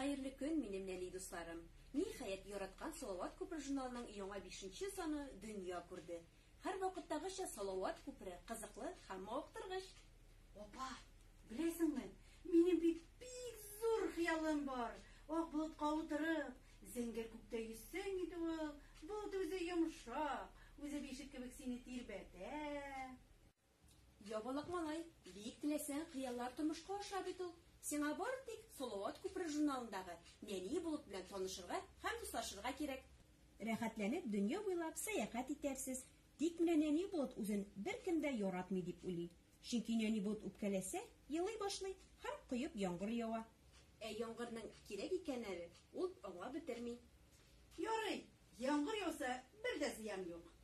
Хәерле көн, минем нәни дусларым! Ниһаять, яраткан Салават күпере журналының яңа бишенче саны дөнья күрде. Һәрвакыттагыча, Салават күпере, кызыклы һәм мавыктыргыч! Апа, беләсеңме, минем бит бик зур хыялым бар, ак болытка утырып, зәңгәр күктә йөзсәң иде ул, болыт үзе йомшак, үзе бишек кебек сине тирбәтә. Ябалак малай, биик теләсәң, хыяллар тормышка аша бит ул. Сиңа бары тик Салават күпере журналындагы Нәни булып белән танышырга һәм дуслашырга кирәк. Рәхәтләнеп дөнья буйлап сәяхәт итәрсез. Тик менә Нәни булт үзен беркем дә яратмый дип уйлый. Чөнки Нәни булт үпкәләсә, елый башлый һәм коеп яңгыр ява. Ә яңгырның кирәк икәнен әле ул аңлап бетерми. Ярый, яңгыр яуса, бер дә зыян юк.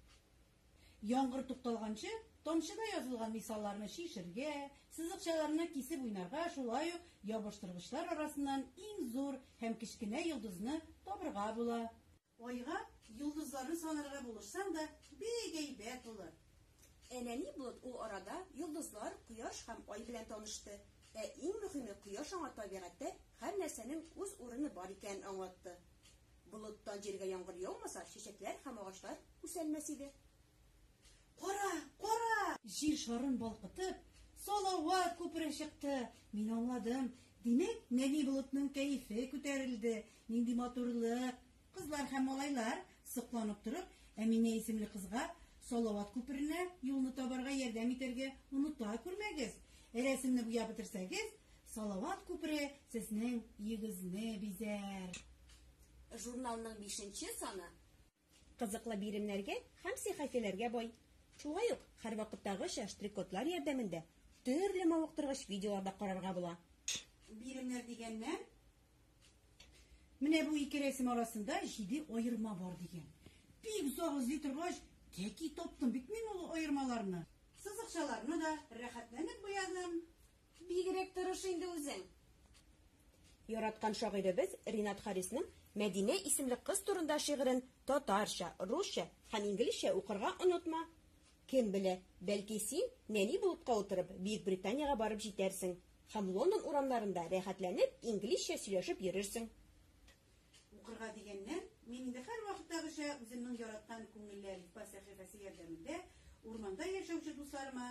Яңгыр тукталганчы, тамчыда язылган мисалларны чишергә, сызыкчаларны кисеп уйнарга, шулай ук ябыштыргычлар арасыннан иң зур һәм кечкенә йолдызны табырга була. Айга йолдызларны санарга булышсаң да, бик әйбәт булыр. Ә нәни Блот ул арада йолдызлар, Кояш һәм Ай белән танышты. Ә иң мөһиме, Кояш аңа табигатьтә һәр нәрсәнең үз урыны бар икәнен аңлатты. Болыттан җиргә яңгыр яумаса, чәчәкләр һәм агачлар үсәлмәс иде. Кара, кара! Җир шарын балкытып, Салават күпере чыкты. Мин аңладым. Димәк, нәни болытның кәефе күтәрелде. Нинди матурлык! Кызлар һәм малайлар, сокланып торып, Әминә исемле кызга Салават күперенә юлны табарга ярдәм итәргә оныта күрмәгез. Рәсемне буяп бетерсәгез, Салават күпере сезнең йөгезне бизәр. Журналның бишенче саны. Кызыклы биремнәргә һәм сихәфиләргә бай. Шулай ук, һәрвакыттагыча, штрикодлар ярдәмендә төрле мавыктыргыч видеолар да карарга була. Биремнәр дигәннән, менә бу ике рәсем арасында җиде аерма бар дигән. Бик озак эзли торгач, тәки таптым бит мин ул аермаларны. Сызыкчаларны да рәхәтләнеп буядым. Бигрәк тырыш инде үзең! Яраткан шагыйребез Ринат Харисның Мәдинә исемле кыз турында шигырен татарча, русча һәм инглизчә укырга онытма! Кем белә, бәлки син, нәни болытка утырып, Бөекбританиягә барып җитәрсең һәм Лондон урамнарында рәхәтләнеп инглизчә сөйләшеп йөрерсең! Укырга дигәннән, мин инде һәрвакыттагыча үземнең яраткан Күңелләр ифбас сәхифәсе ярдәмендә урманда яшәүче дусларыма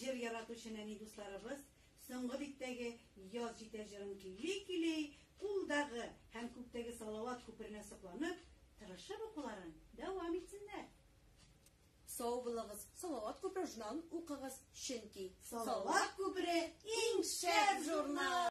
Җыр яратучы нәни дусларыбыз Соңгы биттәге Яз җитә җырын көйли-көйли, кулдагы һәм күктәге Салават күперенә сокланып, тырышып укуларын дәвам итсеннәр. Сау булыгыз, Салават күпере журналын укыгыз, чөнки Салават күпере иң шәп журнал!